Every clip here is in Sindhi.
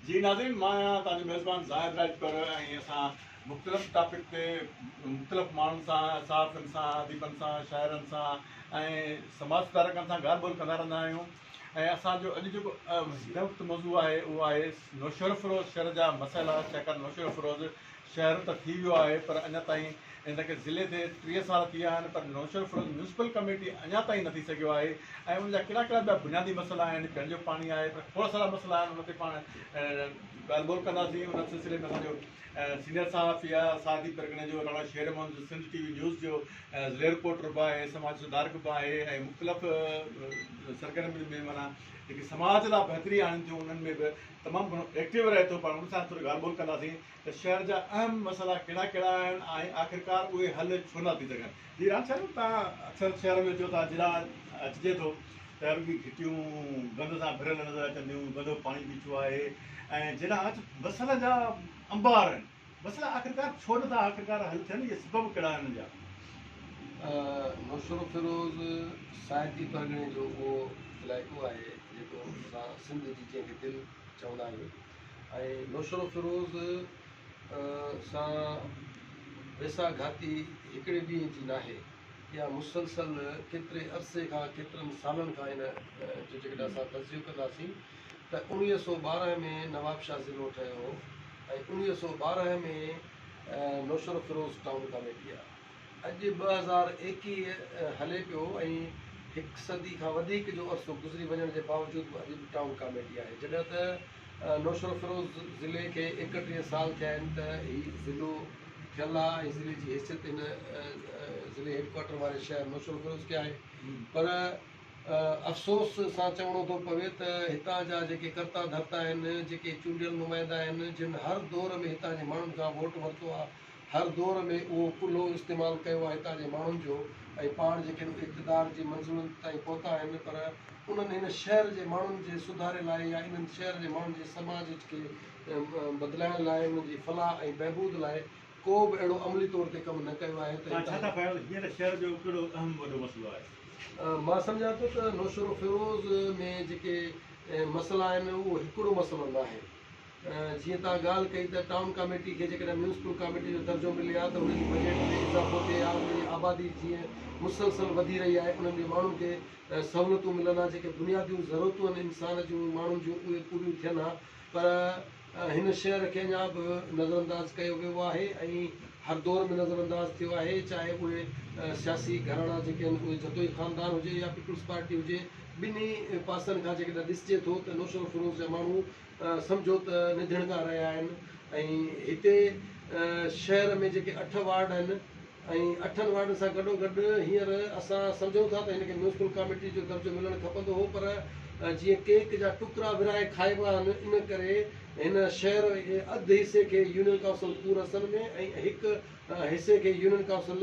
جي ناظرين مان آهيان توهان جو ميزبان زاهد راڄپر ۽ اسان مختلف ٽاپڪ تي مختلف ماڻهن سان صحافين سان اديبن سان شاعرن سان ۽ سماج سڌارڪن سان ڳالهه ٻولهه ڪندا رهندا آهيون ۽ اسان جو اڄ جيڪو هن وقت موضوع آهي اهو آهي نوشهروفيروز شهر جا مسئلا شيخ نوشهروفيروز شهر ته ٿي ويو آهي پر اڃا تائين ان کي ضلعي ٿي ٽيهه سال ٿي ويا آهن پر نوشهرو ميونسپل ڪميٽي اڃا تائين نه ٿي سگهيو آهي ۽ ان جا ڪهڙا ڪهڙا ٻيا بنيادي مسئلا آهن پيئڻ جو پاڻي آهي پر کوڙ سارا مسئلا آهن ان تي پاڻ ڳالهه ٻولهه ڪنداسين ان سلسلي ۾ اسان جو سينيئر صحافي آهي ساردي پرڳڻي جو راڻا شير محمد جو سنڌ ٽي وي نيوز جو ضلعي رپورٽر به آهي سماج سڌارڪ به آهي ۽ مختلف سرگرمين ۾ مانا جيڪي سماج لاء بهتري آڻين ٿيون انهن ۾ به تمام گهڻو ايڪٽو رهي ٿو پاڻ ان سان ٿوري ڳالهه ٻولهه ڪنداسين ته شهر جا اهم مسئلا ڪهڙا ڪهڙا آهن ۽ آخرڪار اهي حل ڇو نه ٿي سگهن. جي راند صاحب تهان اڪثر شهر ۾ اچو ٿا جڏا اچجي ٿو ته رڳي گهٽيون گند سان ڀريل نظر اچن ٿيون گندو پاڻي بيٺو آهي ۽ جڏا اچ مسئلن جا انبار آهن مسئلا آخرڪار ڇو نه ٿا آخرڪار حل ٿين اهي سبب ڪهڙا آهن انهن جا. نوشهروفيروز سائيٽي پرڳڻي جو اهو علائقو آهي جيڪو اسان سنڌ جي جنهن کي دل چوندا آهيون. ۽ نوشھرو فيروز سان ويساھ گھاتي ھڪڙي ڏينھن جي ناھي اھا مسلسل ڪيتري عرصي کان ڪيترن سالن کان ان جو جيڪڏھن اسان تجزيو ڪنداسين ته اوڻويھھ سؤ ٻارنھھ ۾ نوابشاھ ضلعو ٺھيو ھو ۽ اوڻويھھ سؤ ٻارنھھ ۾ نوشھرو فيروز ٽائون ڪاميٽي آ اڄ ٻه هزار ايڪيهه هلي پيو ۽ هڪ صدي کان وڌيڪ جو عرصو گذري وڃڻ جي باوجود به اڄ به ٽائون ڪاميٽي آهي. جڏهن ته نوشهروفيروز ضلعي کي ايڪٽيهه سال ٿيا آهن ته هي ضلعو ٺهيل آهي ۽ ضلعي جي حيثيت هن ضلعي هيڊ ڪوارٽر واري شهر نوشهروفيروز کي آهي پر افسوس سان چوڻو ٿو پوي ته هتان جا جيڪي ڪرتا ڌرتا آهن، جيڪي چونڊيل نمائندا آهن جن هر دور ۾ هتان جي ماڻهن کان ووٽ ورتو آهي، هر دور ۾ اهو ڪلهو استعمال ڪيو آهي هتان جي ماڻهن جو ۽ پاڻ جيڪي به اقتدار جي منزلن تائين پهتا آهن پر انهن هن شهر جي ماڻهن جي سڌاري لاء يا انهن شهر جي ماڻهن جي سماج کي بدلائڻ لاء انهن جي فلاح ۽ بهبود لاء ڪو به اهڙو عملي طور تي ڪم نه ڪيو آهي ته توهان ڇا ٿا پايو ته هينئر شهر جو ڪهڙو اهم وڏو مسئلو آهي؟ مان سمجهان ٿو ته نوشهروفيروز ۾ جيڪي مسئلا آهن اهو هڪڙو مسئلو ناهي. جيئن توهان ڳالهه ڪئي ته ٽائون ڪاميٽي کي جيڪڏهن ميونسپل ڪاميٽي جو درجو ملي ها ته ان جي بجيٽ ۾ اضافو ٿئي ها انهن جي آبادي جيئن مسلسل وڌي رهي آهي انهن جي ماڻهن کي سهولتون ملن ها جيڪي بنياديون ضرورتون آهن انسان جون ماڻهن جون اهي پوريون ٿين ها پر هن شهر کي اڃا به نظر انداز ڪيو ويو آهي ۽ هر دور ۾ نظر انداز ٿيو آهي چاهي اهي سياسي گهراڻا جيڪي آهن اهي جتوئي خاندان هجي يا پيپلز پارٽي هجي ٻنهي پاسن کان جيڪڏهن ڏسجي ٿو ته نوشهروفيروز جا ماڻهو سمجهو ته ننڌڻ کان رهيا آهن ۽ هتي شهر ۾ جيڪي اٺ وارڊ آهن ۽ اٺن وارڊن سان گڏوگڏ هينئر اسان سمجهون ٿا ته هن کي ميونسپل ڪاميٽي جو درجو ملڻ کپندو هو پر جيئن ڪيڪ جا ٽڪرا ورهائي کائبا آهن ان ڪري هن شهر جي اڌ حصي کي يونين ڪائونسل پور حصن ۾ ۽ هڪ حصي کي يونين ڪائونسل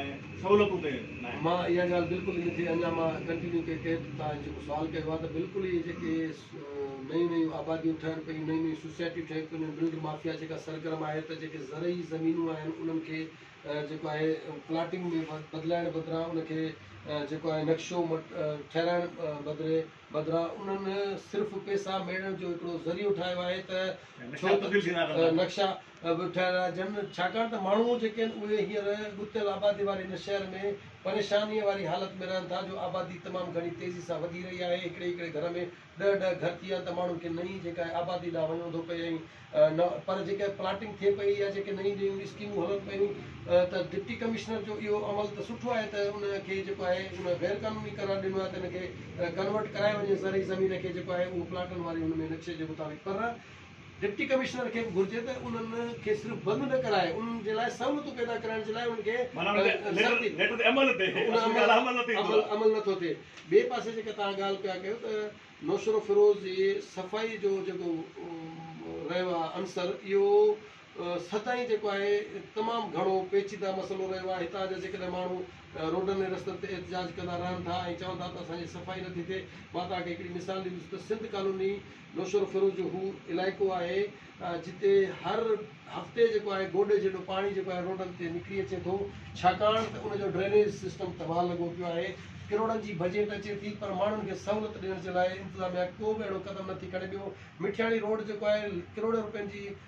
۽ سهولتون ڪيون ناهن. مان اها ڳالهه بلڪل ان کي اڃا مان ڪنٽينيو ڪي ڪيت تان جيڪو سوال ڪيو آهي ته بلڪل اهي جيڪي نيون نيون آباديون ٺهن پيون نيون نيون سوسائٽيون ٺهن پيون انهن بلڊ مافيا جيڪا سرگرم آهي ته جيڪي زرعي زمينون آهن انهن کي جيڪو آهي پلاٽنگ ۾ بدلائڻ بدران ان کي جيڪو آهي نقشو ٺهرائڻ بدري بدران انهن صرف پيسا ميڙڻ جو هڪڙو ذريعو ٺاهيو آهي ته ڇو ته نقشا به ٺهرائجن، ڇاڪاڻ ته ماڻهو جيڪي آهن اهي هينئر ڳتيل آبادي واري هن شهر ۾ پريشانيء واري حالت ۾ رهن ٿا جو آبادي تمام گهڻي تيزي سان وڌي رهي آهي، هڪڙي هڪڙي گهر ۾ ڏهه ڏهه گهر ٿي ويا آهن ته ماڻهن کي نئين جيڪا آهي آبادي ڏانهن وڃڻو ٿو پئي ۽ نه پر جيڪا پلاٽنگ ٿئي پئي يا جيڪي نئين نيون اسڪيمون هلن پيون ته ڊپٽي ڪمشنر جو اهو عمل ته سٺو آهي ته ان کي جيڪو آهي ان غير قانوني قرار ڏنو آهي ته ان کي ڪنورٽ ڪرائي وڃي زرعي زمين کي جيڪو آهي اهو پلاٽن واري هن ۾ نقشي جي مطابق پر ڊپٽي ڪمشنر کي به گهرجي ته انهن کي صرف بند نه ڪرائي انهن جي لاء سهولتون پيدا ڪرائڻ جي لاء انهن کي سختي ان عمل نٿو ٿئي ٻئي پاسي جيڪا توهان ڳالهه پيا ڪيو ته نوشهروفيروز جي صفائي جو جيڪو رهيو آهي عنصر اهو سدائين جيڪو آهي تمام گهڻو پيچيده مسئلو رهيو آهي هتان جا جيڪڏهن ماڻهو روڊن ۽ رستن تي احتجاج ڪندا رهن ٿا ۽ چون ٿا ته اسان جي صفائي نٿي ٿئي مان توهان کي هڪڙي مثال ڏيندس ته سنڌ ڪالوني نوشهرو فيروز جو هو علائقو آهي جتي هر هفتي جيڪو آهي گوڏي جيڏو پاڻي جيڪو آهي روڊن تي نڪري اچي ٿو ڇاڪاڻ ته ان جو ڊرينيج سسٽم تباهه لڳو پيو آهي ڪروڙن جي بجيٽ اچي ٿي پر ماڻهن کي سهولت ڏيڻ جي لاء انتظاميا ڪو به اهڙو قدم نٿي کڻي ٻيو مٺياڻي روڊ جيڪو آهي ڪروڙين روپين جي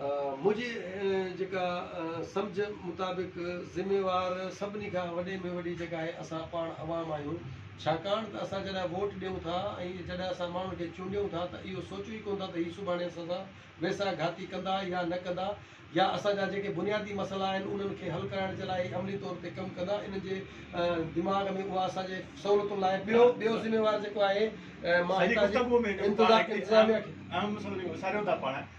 منهنجي جيڪا سمجهه مطابق ذميوار سڀني کان وڏي ۾ وڏي جيڪا آهي اسان پاڻ عوام آهيون ڇاڪاڻ ته اسان جڏهن ووٽ ڏيون ٿا ۽ جڏهن اسان ماڻهن کي چونڊيون ٿا ته اهو سوچون ئي ڪونه ٿا ته هي سڀاڻي اسان سان ويساهه گهاتي ڪندا يا نه ڪندا يا اسان جا جيڪي بنيادي مسئلا آهن انهن کي حل ڪرائڻ جي لاء هي عملي طور تي ڪم ڪندا انهن جي دماغ ۾ اها اسان جي سهولتن لاء ٻيو ٻيو ذميوار جيڪو آهي مان هتان جي انتظاميا کي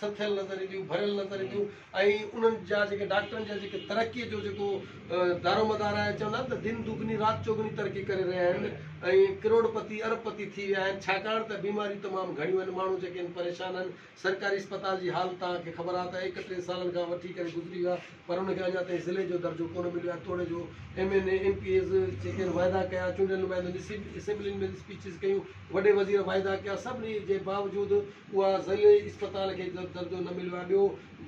سٿيل نظر اينديون، ڀريل نظر اينديون ۽ انهن جا جيڪي ڊاڪٽرن جا جيڪي ترقي جو جيڪو دارومدار آهي چوندا آهن ته دن دوگني رات چوگني ترقي ڪري رهيا آهن ۽ ڪروڙ پتي ارب پتي ٿي ويا آهن ڇاڪاڻ ته بيماريون تمام گهڻيون آهن ماڻهو جيڪي آهن پريشان آهن سرڪاري اسپتال جي حال توهان کي خبر آهي ته ايڪٽيهن سالن کان وٺي ڪري گذري ويا پر ان کي اڃا تائين ضلعي جو درجو ڪونه مليو آهي توڙي جو M N A M P As جيڪي آهن واعدا ڪيا چونڊيل نمائندن اسيمبلين ۾ اسپيچز ڪيون وڏي وزير واعدا ڪيا سڀني جي باوجود اها ضلعي اسپتال کي درجو نه مليو آهي ٻيو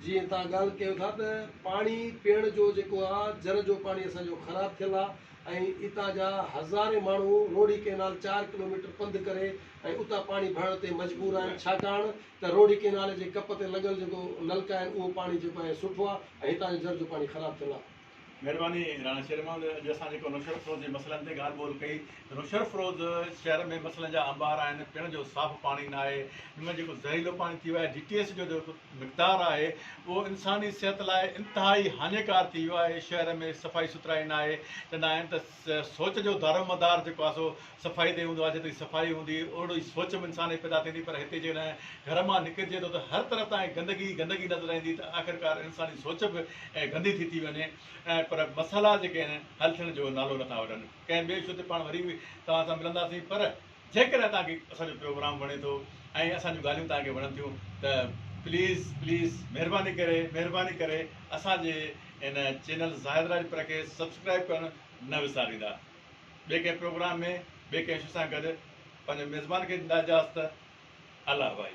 جيئن توهان ڳالهه ڪيو ٿا ته پاڻي پيئڻ جو جيڪو آهي جر جو پاڻي اسان جو خراب ٿيل آهي ۽ اتان جا هزارين ماڻهو روهڙي ڪئنال چار ڪلوميٽر پنڌ ڪري ۽ اتان پاڻي ڀرڻ تي مجبور آهن ڇاڪاڻ ته روهڙي ڪئنال جي ڪپ تي لڳل جيڪو نلڪا آهن اهو پاڻي جيڪو آهي سٺو آهي ۽ هتان جو جر جو پاڻي خراب ٿيل آهي مھرباني راڻا شير محمد اڄ اسان جيڪو نوشھر فروز جي مسئلن تي ڳالھ ٻولھ ڪئي ته نوشھر فروز شھر ۾ مسئلن جا انبار آھن پيڻ جو صاف پاڻي نه آھي ان ۾ جيڪو زھريلو پاڻي ٿي ويو آھي جي ٽي ايس جو جيڪو مقدار آھي اھو انساني صحت لاء انتھائي ھاڃيڪار ٿي ويو آھي شھر ۾ صفائي سٿرائي نه آھي چوندا آھن ته سوچ جو دارومدار جيڪو آھي سو صفائي تي هوندو آهي، جيتري صفائي هوندي اهڙو ئي سوچ به انسان ۾ پيدا ٿيندي پر هتي جيڪڏهن گهر مان نڪرجي ٿو ته هر طرف تان گندگي ئي گندگي نظر ايندي ته آخرڪار انساني سوچ به گندي ٿي ٿي وڃي پر مسئلا جيڪي آهن حل ٿيڻ جو نالو نٿا وٺن ڪنهن ٻئي شو تي پاڻ وري به توهان سان ملنداسين پر جيڪڏهن توهان کي اسان جو پروگرام وڻي ٿو ۽ اسان جون ڳالهيون توهان کي وڻن ٿيون ته پليز پليز مهرباني ڪري مهرباني ڪري اسان جي ان چينل زاهد راجپر کي سبسڪرائب ڪرڻ نه وساريندا ٻئي ڪنهن پروگرام ۾ ٻئي ڪنهن شخص سان گڏ پنهنجو ميزبان کي ڏيندا اجازت الله ڀائي.